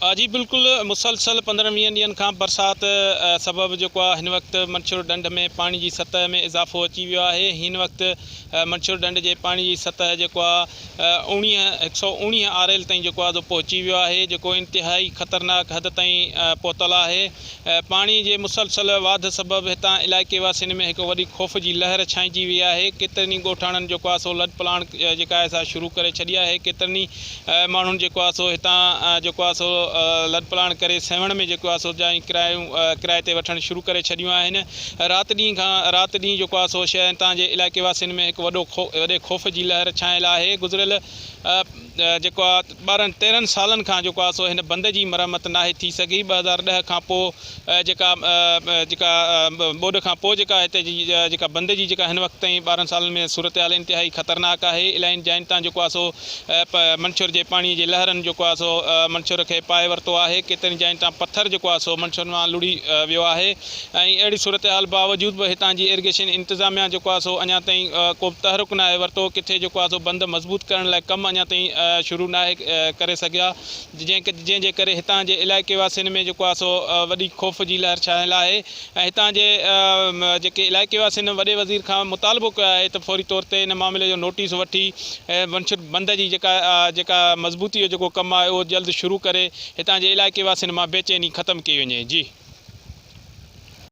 آ جي بلڪل مسلسل پندرهن ويهن ڏينهن کان برسات سبب جيڪو آ هن وقت منڇر ڏنڍ ۾ پاڻي جي سطح ۾ اضافو اچي ويو آهي هين وقت منڇر ڏنڍ جي پاڻي جي سطح جيڪو آ اوڻيهه هڪ سؤ اوڻيهه آريل تائين جيڪو آ سو پهچي ويو آهي جيڪو انتهائي خطرناڪ حد تائين پهتل آهي پاڻي جي مسلسل واڌ سبب هتان علائقي واسين ۾ هڪ وڏي خوف جي لهر ڇانئجي وئي آهي، ڪيترن ئي ڳوٺاڻن جيڪو آهي سو لڏ پلاڻ جيڪا آهي سا شروع ڪري ڇڏي آهي، ڪيترن ئي ماڻهن جيڪو آهي سو هتان جيڪو آهي سو لڏ پلاڻ ڪري سيوهڻ ۾ جيڪو آهي سو جايون ڪرايون ڪرائي تي وٺڻ شروع ڪري ڇڏيون آهن، رات ڏينهن کان رات ڏينهن جيڪو آهي سو هتان جي علائقي واسين ۾ هڪ وڏو وڏي خوف جي لهر ڇانيل آهي، گذريل. جيڪو آ ٻارهن تيرهن سالن کان جيڪو آ سو هن بند جي مرمت ناهي ٿي سگهي ٻه هزار ڏهه کان پو جيڪا جيڪا ٻوڏ کان پو جيڪا هتي جي جيڪا بند جي جيڪا هن وقت تائين ٻارهن سالن ۾ صورتحال انتهائي خطرناڪ آهي الائين جاين تان جيڪو آ سو منڇور جي پاڻي جي لهرن جيڪو آ سو منڇور کي پائي ورتو آهي ڪيترين جاين تان پٿر جيڪو آ سو منڇور مان لڙهي ويو آهي ۽ اهڙي صورتحال باوجود به هتان جي ايرگيشن انتظاميا جيڪو آهي سو اڃا تائين ڪو به تحرڪ ناهي ورتو، ڪٿي جيڪو آهي سو بند مضبوط ڪرڻ لاء ڪم اڃا تائين شروع ناهي ڪري سگهيا، جنهن جي ڪري هتان جي علائقي واسين ۾ جيڪو آهي سو وڏي خوف جي لهر ڇانيل آهي ۽ هتان جي جيڪي علائقي واسين وڏي وزير کان مطالبو ڪيو آهي ته فوري طور تي ان معاملي جو نوٽيس وٺي بند جي جيڪا جيڪا مضبوطي جو جيڪو ڪم آهي اهو جلد شروع ڪري. هتان جي علائقي واسين مان بيچيني ختم ڪئي وڃي جي.